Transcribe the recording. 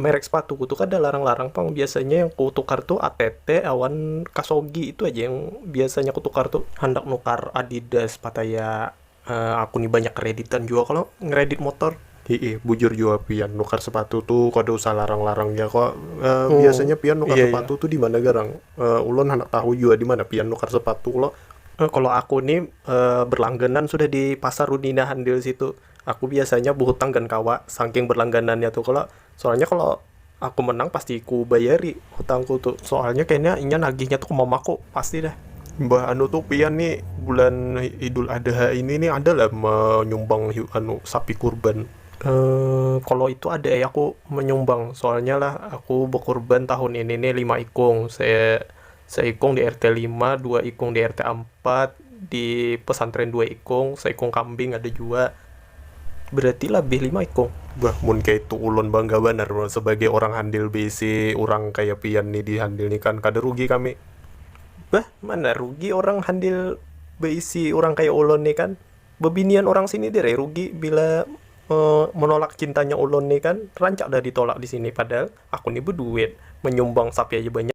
merek sepatu ku tu kada larang-larang pang biasanya yang ku tukar tu ATT awan kasogi itu aja yang biasanya ku tukar tu handak nukar adidas pataya aku ni banyak kreditan jua kalo ngredit motor hiih bujur jua pian nukar sepatu tu kada usah larang-larang ja kalo biasanya pian nukar sepatu tu dimana garang ulun handak tahu jua dimana pian nukar sepatu lo kalo aku ni berlangganan sudah di pasar rudinahandil situ. Aku biasanya behutang gan kawa, sangking berlangganannya tu kalo, soalnya kalo aku menang pasti ku bayari hutangku tu, soalnya kayanya inya nagihnya tu ke mamaku pasti dah. Mbah anu tu pian ni bulan idul adha ini ni ada lah menyumbang anu sapi kurban? Emm kalo itu ada ai aku menyumbang, soalnya lah aku bekurban tahun ini ni lima ikung, se Saikung di RT lima, dua ikung di RT ampat, di pesantren dua ikung, saikung kambing ada jua. Berarti labih lima ikung. Bah, mun kaya itu ulun bangga banar lo sebagai orang handil beisi urang kaya pian ni di handil ni kan kada rugi kami. Bah, mana rugi orang handil beisi urang kaya ulun ni kan. Bebinian orang sini dir ai rugi bila menolak cintanya ulun ni kan. Rancak dah ditolak di sini padahal aku ni beduit, menyumbang sapi aja banyak.